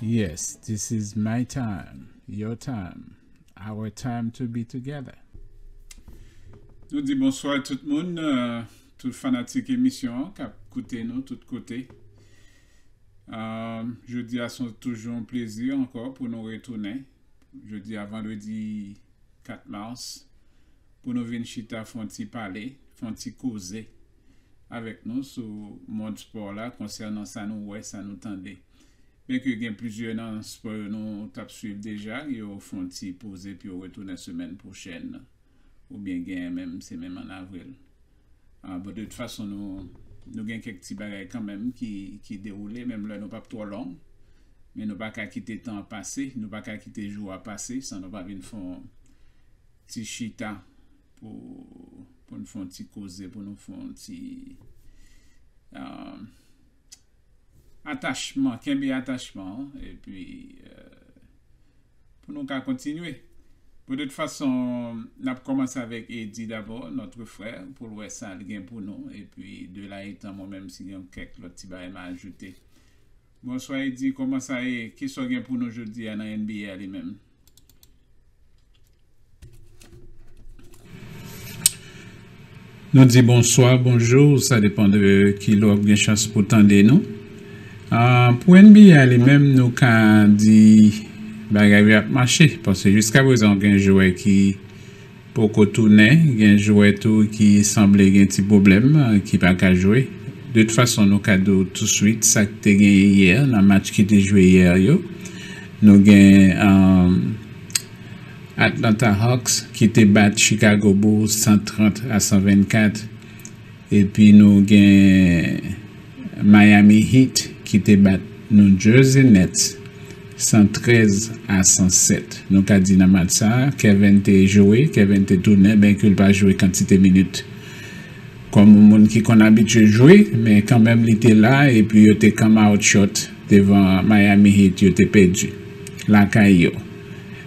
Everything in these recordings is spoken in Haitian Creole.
Yes, this is my time, your time, our time to be together. Nou di bonswa tout moun, euh, tout fanatik emisyon an kap koute nou tout kote. Jodi a son toujou yon plezi ankò pou nou retounen jodi a vandredi 4 mars pou nou vin chita fon ti pale, fon ti koze avèk nou sou mond spò la konsènan sa nou wè, sa nou tande. Byen ke gen plizyè nan spò yo nou t ap swiv deja, yo fon ti poze pou yo retounen semèn pwochèn. ou byen genyen menm se menm an avril an bon de tout fason nou nou gen kèk ti bagay kanmenm ki ki dewoule menm lè nou pap twò long men nou pa ka kite tan an pase nou pa ka kite jou a pase san nou pa vin fon ti chita pou poun fon ti koze pou nou fon ti an. Atachman, kenbe atachman an epi pou nou ka kontinye. De tout fason, n ap kòmanse avèk Eddy dabò, notre frère, pou l wè sa l gen pou nou epi de là etant mwen menm si gen yon kèk lòt ti bagay m a ajoute. Bonswa Eddy, kòman sa ye? Kisa w gen pou nou jodi a nan NBA a li menm? Nou di bonswa, bonjou, sa depan de ki lè w ap gen chans pou tande nou. Pou NBA a li menm nou ka di bagay yo ap mache paske jiskaprezan gen jwè ki Poko tounen gen jwè tou ki sanble gen ti pwoblèm ki pa ka jwe. De tout fason nou ka di w touswit sa k te genyen yè nan match ki te jwe yè yo. Nou gen Atlanta Hawks ki te bat Chicago Bulls 130 a 124. Epi nou gen Miami Heat ki te bat New Jersey Nets 113 a 107. Nou ka di nan match sa, Kevin te jwe, Kevin te tounen benke l pa jwe kantite minit kòm yon moun ki konn abitye jwe, men kanmenm li te la epi yo te come out short devan Miami Heat, yo te pèdi lakay yo.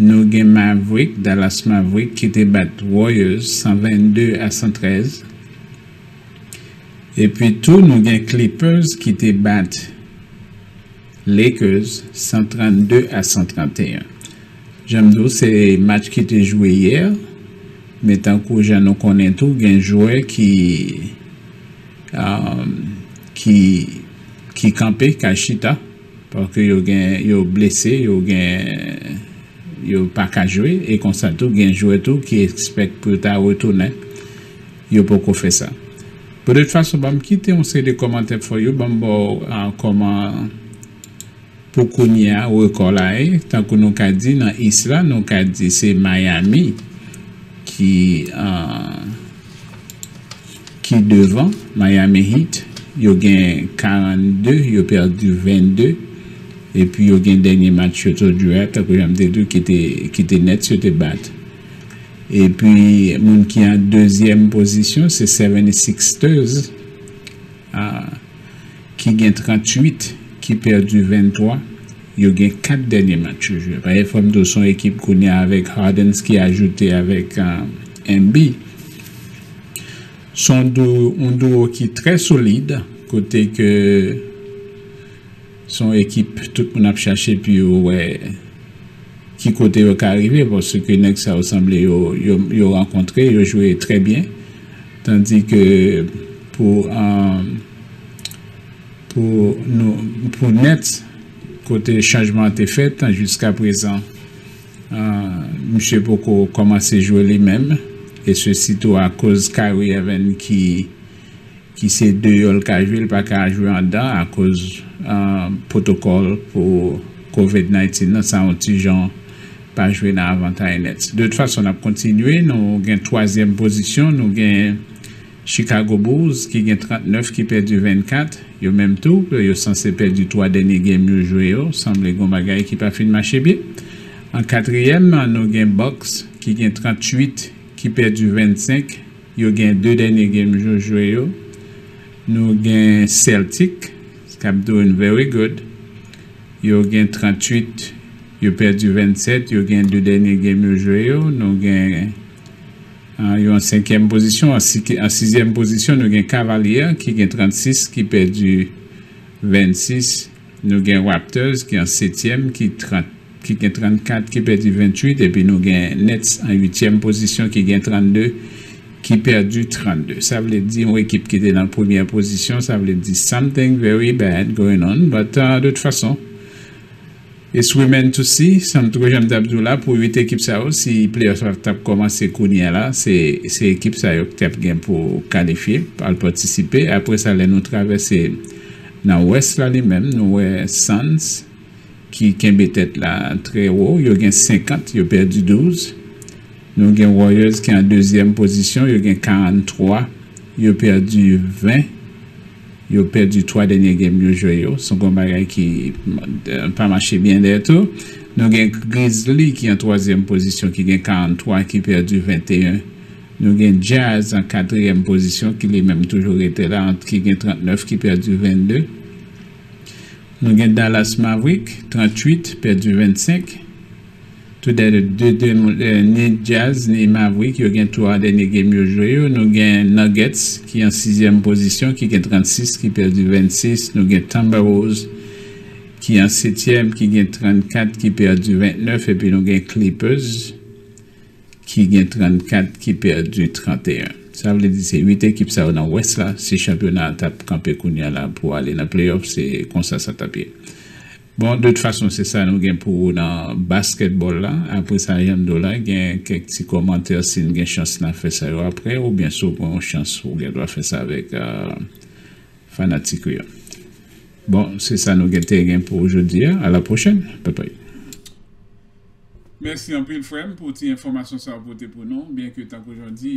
Nou gen Mavrik, Dallas Mavrik ki te bat Warriors 122 a 113. Epi tou nou gen Clippers ki te bat Lakers 132 a 131. Jan m di w se match ki te jwe yè, men tankou jan nou konnen tou gen jwè ki ki ki kanpe, ka chita. Paske yo gen yo blese, yo gen yo pa ka jwe e konsa tou gen jwè tou ki espèk pou yo ta retounen yo poko fè sa. Bon tout fason banm kite yon seri de kòmantè fò yo banm ba w kòman pou kounye a rekò la ye tankou nou ka di nan East la nou ka di se Miami ki. ki devan Miami Heat yo gen 42 yo pèdi 22 epi yo gen dènye match yo to dure a tankou janm te diw ki te Nets yo te bat epi moun ki an dezyèm pozisyon se 76ers ki gen 38 ki pèdi 23 yo gen 4 dènye match yo jwe paske fòm diw son ekip kounye a avèk Hardens ki ajoute avèk Embi. Se yon duo, yon duo ki trè solid kote ke se yon ekip tout moun ap chache pou yo wè ki kote yo ka rive paske nèg sa yo sanble yo, yo rankontre, yo jwe trè byen tandi ke pou pou Nets kote chanjman an te fèt jiskaprezan. Misye poko kòmanse jwe li menm e sesi tou akoz Kyrie Irving ki ki se deyò l ka jwe, li pa ka jwe andan akoz pwotokòl pou covid 19 nan sa yon ti jan pa jwe nan avantay Nets. De tout fason n ap kontinye nou gen twazyèm pozisyon nou gen Chicago Bulls ki gen 39 ki pèdi 24, yo menm tou yo sanse pèdi 3 dènye game yo jwe yo, sanble gon bagay ki pa fin mache byen. An katriyèm nou gen Bucks ki gen 38 ki pèdi 25, yo gen 2 dènye game yo jwe yo, nou gen Celtics kap doing very good yo gen 38 yo pèdi 27, yo gen 2 dènye game yo jwe yo, nou gen. An yo an senkyèm pozisyon. An sizyèm pozisyon nou gen Cavaliers ki gen 36 ki pèdi 26. Nou gen Raptors ki an setyèm ki gen 34 ki pèdi 28 epi nou gen Nets an uityèm pozisyon ki gen 32 ki pèdi 32. Sa vle di yon ekip ki te nan premyè pozisyon sa vle di something very bad going on but de tout fason It's remain to see, san tro janm tap di w la pou 8 ekip sa yo si playoff la tap kòmanse kounyè la se se ekip sa yo ki tap gen pou kalifye al patisipe aprè sa lè nou travèse nan west la li menm nou wè Suns ki kenbe tèt la trè wo yo gen 50 yo pèdi 12 nou gen Warriors ki an dezyèm pozisyon yo gen 43 yo pèdi 20. Yo pèdi 3 dènye game yo jwe yo. Son gon bagay ki pa mache byen dè tou. Nou gen Grizzly ki an twazyèm pozisyon ki gen 43 ki pèdi 21. Nou gen Jazz an katriyèm pozisyon ki li menm toujou rete la ki gen 39 ki pèdi 22. Nou gen Dallas Maverick 38 pèdi 25. Tou de de de nou ni Jazz ni Maverick yo gen 3 dènye game yo jwe yo. Nou gen Nuggets ki an sizyèm pozisyon ki gen 36 ki pèdi 26. Nou gen Timberwolves ki an setyèm ki gen 34 ki pèdi 29 epi nou gen Clippers ki gen 34 ki pèdi 31. Sa vle di se 8 ekip sa yo nan West la si chanpyona a tap kanpe kounya la pou ale nan playoff se konsa sa tap ye. Bon de tout fason se sa nou gen pou ou nan basketball la apre sa Yando la gen kèk ti kòmantè si n gen chans na fè sa yo apre oubyen si w pran yon chans ou gen dwa fè sa avèk fanatik ou yo bon se sa nou gen te gen pou jodi a a la pwochèn papay. Mèsi anpil frèm pou ti enfòmasyon sa ou pote pou nou byen ke tankou jan w di.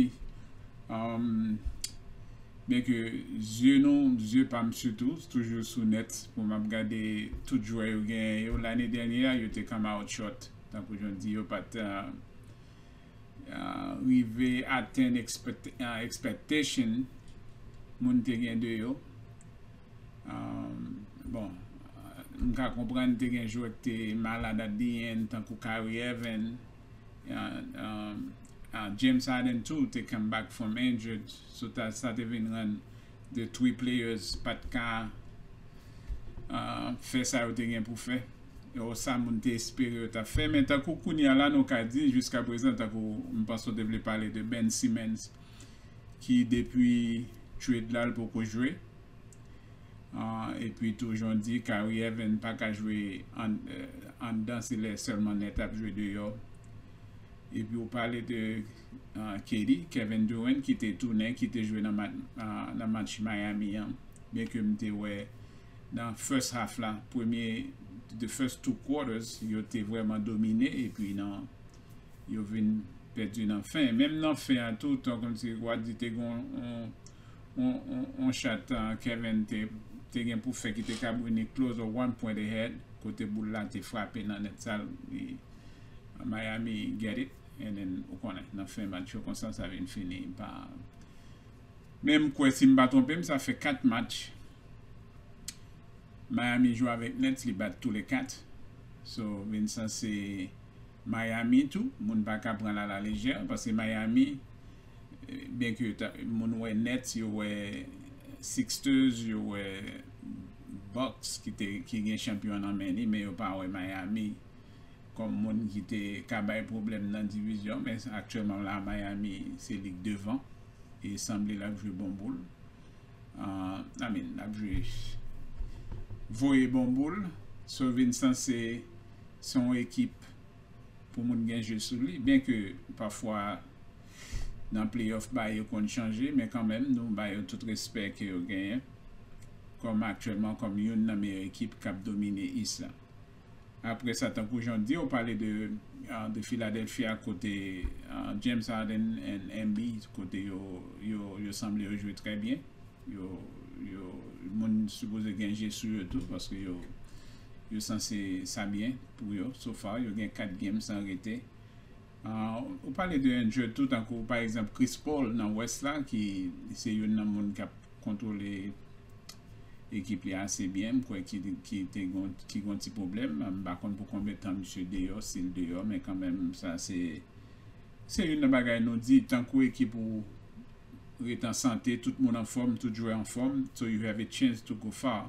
byen ke zye nou, zye pa m sitou, toujou sou nèt pou m ap gade tout jwè yo genyen yo. Lane dènye a, yo te ka mawotchòt, tankou jan w di, yo pa t rive atenn ekspèktasyon moun te gen de yo. Bon, m ka konprann te gen jwè ki te malad at di end, tankou Kyrie Irving. James Harden tou te come back from injured so sa te vin rann 2 three players pat ka fè sa yo te gen pou fè o sa moun te espere yo tap fè men tankou kounye a la nou ka di jiska prezan tankou m panse w te vle pale de Ben Simmons ki depi trade la l poko jwe Epi tou jan w di Kyrie Irving pa ka jwe anndan se lè sèlman nèt ap jwe deyò. Epi ou pale de KD, Kevin Durant ki te tounen, ki te jwe nan match Miami an. Byen ke m te wè nan first half la, premye, the first two quarters, yo te vrèman domine epi nan yo vin pèdi nan fen. Menm nan fen an tou, tan kòmsi w a di te gen yon on chat Kevin te gen pou fè ki te ka brini close a one point ahead kote boul la te frape nan nèt sal Miami get it and then ou konnen nan fen match yo konsa sa vin fini pa men m kwè si m pa twonpe m sa fè 4 match Miami jwe avèk nèt li bat tou le 4 so vin sanse Miami tou moun pa ka pran l a la lejè paske Miami byen ke moun wè Nets yo wè Sixters yo wè Bucks ki gen chanpyon nan men li men yo pa wè Miami kòm moun ki te ka bay pwoblèm nan divizyon men aktyèlman la Miami se li k devan e sanble lap jwe bon boul I mean lap jwe voye bon boul so vin san se son ekip pou moun gen je sou li byen ke pafwa nan playoff bagay yo konn chanje men kanmenm nou ba yo tout respè ke yo genyen kòm aktyèlman kòm youn nan meyè ekip k ap domine East la. Apre sa tankou jan w di ou pale de Philadelphia kote James Harden and MB kote yo sanble yo jwe trè byen yo moun sipoze gen je sou yo tou paske yo sanse sa byen. Pou yo, so far yo gen 4 game san rete. Ou pale de Injured tou tankou pa egzanp Chris Paul nan West la ki se youn nan moun kap kontwole ekip li ase byen m kwè ki gen yon ti pwoblèm m pa konn pou konbyen tan misye deyò si l deyò men kanmenm sa se se youn nan bagay nou di tankou ekip ou ret an sante tout moun anfòm tout jwè anfòm so you have a chance to go far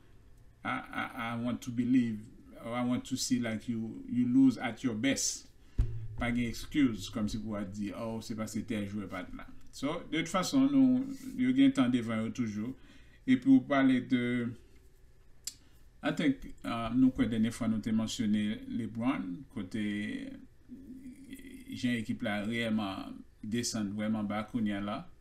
I want to believe or I want to see like you you lose at your best pa gen excuse kòmsi pou a di oh se paske tèl jwè pat la so de tout fason nou yo gen tan devan yo toujou epi ou pale de I think nou kwè dènye fwa nou te mansyone Lebron kote jan ekip la reyèman desann vrèman ba kounya la.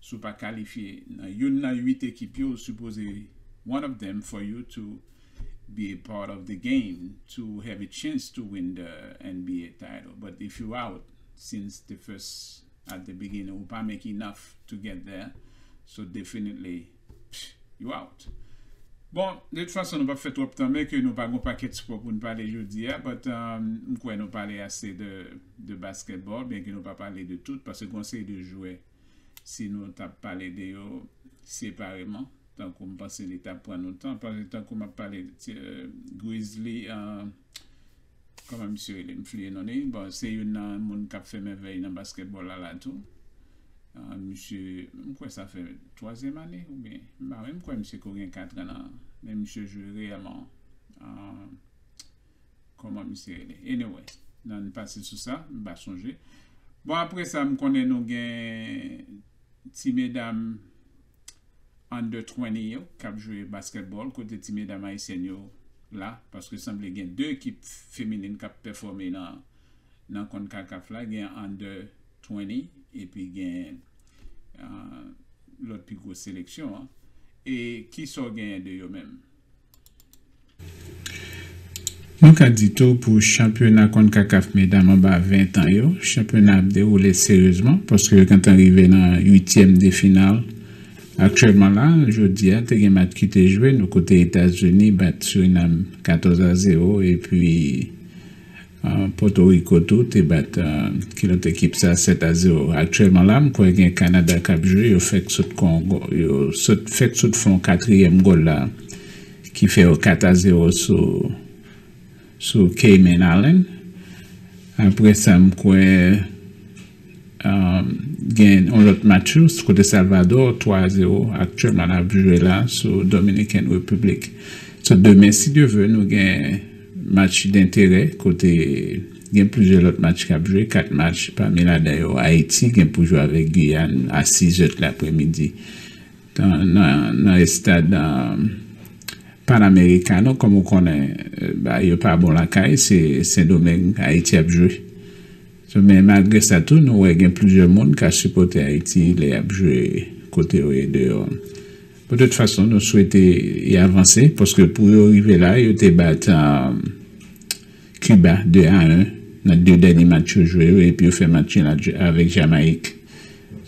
Si w pa kalifye nan youn nan 8 ekip yo ou sipoze one of them for you to be a part of the game to have a chance to win the nba title but if you out since the first at the beginning ou pa make enough to get there so definitely pfff you out. Bon, de tout fason nou pap fè twòp tan menke nou pa gon pakèt spò pou n pale jodi a but m kwè nou pale ase de basketball byenke nou pa pale de tout paske gon seri de jwè si nou tap pale de yo separeman tankou m panse li tap pran nou tan paske tankou map pale Grizli kòman misye rele m fliye non li bon se youn nan moun kap fè mèvèy nan baskètbòl la la tou misye m kwè sa fè twazyèm ane oubyen m pa wè m kwè misye ko gen katran nan men misye jwe reyèlman Kòman misye rele anyway nan pase sou sa m pa sonje bon aprè sa m konnen nou gen ti medam under 20 yo kap jwe baskètbòl kote ti medam ayisyèn yo la paske sanble gen 2 ekip feminin kap pèfòme nan nan Concacaf la gen under 20 epi gen lòt pi gwo seleksyon an e kisa w genyen de yo menm. Nou ka di tou pou chanpyona Concacaf medam anba 20 tan yo, chanpyona ap dewoule seryezman paske yo gentan rive nan uityèm de final aktyèlman la. Jodi a te gen match ki te jwe nou kote Etazini bat Surinam 14 a 0 epi. Pòtoriko tou te bat ki lòt ekip sa 7 a 0. Aktyèlman la m kwè gen Kanada k ap jwe yo fèk sot kon yo sot fèk sot fè yon katriyèm gòl la ki fè yo 4 a 0 sou sou Cayman Island. Aprè sa m kwè gen yon lòt match tou kote Salvadò 3 a 0 aktyèlman ap jwe la sou Dominican Republic. Sou demen si Dye ve nou gen Match denterè kote gen plizyè lòt match k ap jwe, 4 match pami ladan yo Ayiti gen pou jwe avèk Giyàn a 6 zèt lapremidi nan estad Panamericano. Kòm ou konnen bagay yo pa bon lakay, se Sendomeng Ayiti ap jwe. Men malgre sa tou nou wè gen plizyè moun k a sipòte Ayiti lè y ap jwe kote yo ye deyò. Pou tout fason nou swete y avanse paske pou yo rive la yo te bat Kiba 2 a 1 nan 2 dènye match yo jwe yo epi yo fè match nul avèk Jamayik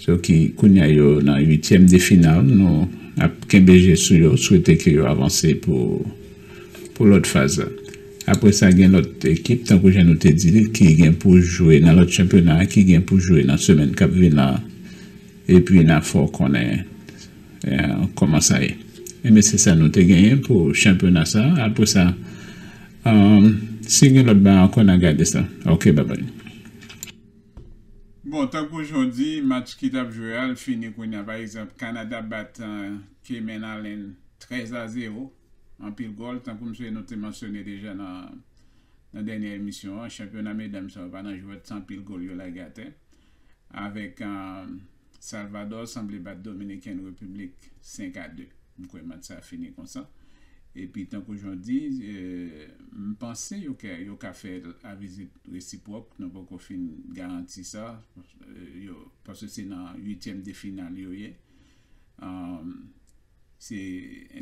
so ki kounye a yo nan 8 tièm de final nou ap kenbe je sou yo swete ke yo avanse pou pou lòt faz la. Apre sa gen lòt ekip tankou jan nou te di li ki gen pou jwe nan lòt chanpyona ki gen pou jwe nan semèn kap vin la epi na fè w konnen. Kòman sa ye? Enben se sa nou te genyen pou chanpyona sa. Apre sa, si gen lòt bagay ankò, n a gade sa. Ok, babay. Bon, tankou jan w di, match ki t ap jwe a, l fini kounye a. Pa egzanp, Kanada bat Cayman Island 13 a 0. Anpil gòl. Tankou msye nou te mansyone deja nan dènye emisyon an, chanpyona medanm sa yo pa nan jwèt san anpil gòl yo lage atè. avèk Salvador sanble bat Dominican Republic 5 a 2 m kwè match sa fini konsa epi tankou Jean di m panse yo kè yo ka fè a vizit resipwòk nou poko fin garanti sa yo paske se nan uityèm de final yo ye. Se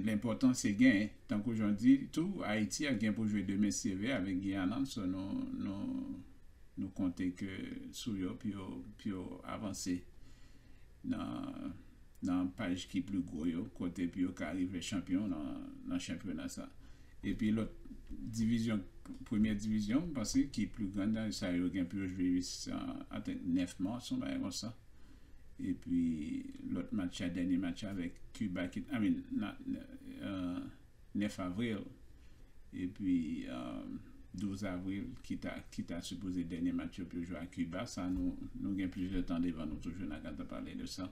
lenpòtan se gen. Tankou jan w di tou, Ayiti ap gen pou jwe demen seve avèk Guyana, so nou konte ke sou yo pou yo avanse nan paj ki pli gwo yo, kote pou yo ka rive chanpyon nan chanpyona sa. Epi lòt divizyon, premyè divizyon m panse ki pli gran nan sa yo gen pou yo jwe antank 9 mas, yon bagay konsa. Epi lòt match la, dènye match la avèk Kiba ki, I mean, not, 9 avril, epi 12 avril ki ta, ki ta sipoze dènye match yo pou yo jwe a Kiba. Sa nou, nou gen plizyè tan devan nou toujou, n a ka ta pale de sa.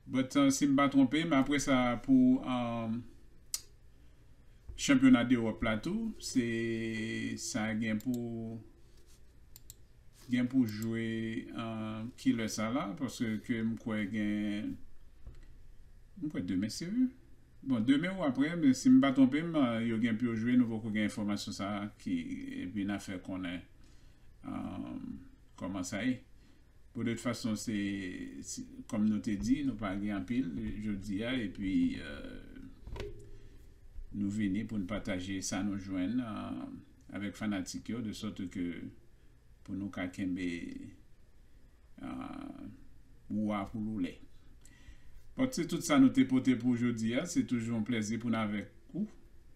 But, si m pa twonpe m, apre sa pou chanpyona dEròp la tou, se, sa gen pou. Gen pou jwe kilè sa la paske ke m kwè gen m kwè demen se wi bon demen ou aprè si m pa twonpe m yo gen pou yo jwe nou poko gen enfòmasyon sa ki epi na fè konnen kòman sa ye bon de tout fason se kòm nou te di nou pa gen anpil jodi a epi nou vini pou n pataje sa nou jwenn nan. avèk fanatik yo de sòt ke pou nou ka kenbe wou a pou loulè. Bon, se tout sa nou te pote pou jodi a, se toujou yon plèzi pou n avèk ou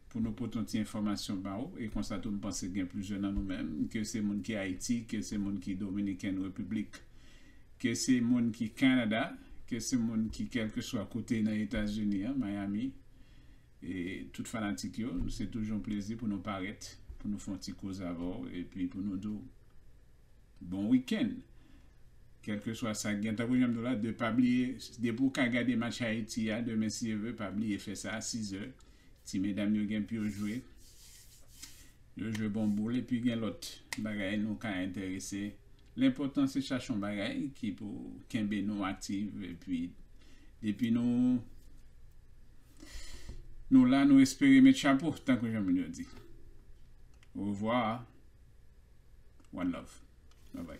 pou nou pote yon ti enfòmasyon ba ou e konsa tou m panse gen plizyè nan nou menm ke se moun ki Ayiti, ke se moun ki Dominiken Repiblik, ke se moun ki Kanada, ke se moun ki kèlkeswa kote nan Etazini an, Miami. Tout fanatik yo, se toujou yon plezi pou nou parèt pou nou fè yon ti koze avè w epi pou nou di w bon wikenn kèlkeswa sa k gen. Tankou jan m di w la, de pa bliye depi w ka gade match Ayiti a demen si Dye ve, pa bliye fè sa a sizè. Ti medam yo gen pou yo jwe, yo jwe bon boul epi gen lòt bagay nou ka enterese. Lenpòtan se chache yon bagay ki pou kenbe nou aktiv epi depi nou nou la nou espere met chapo tankou jan moun yo di. Orevwa one love. Babay.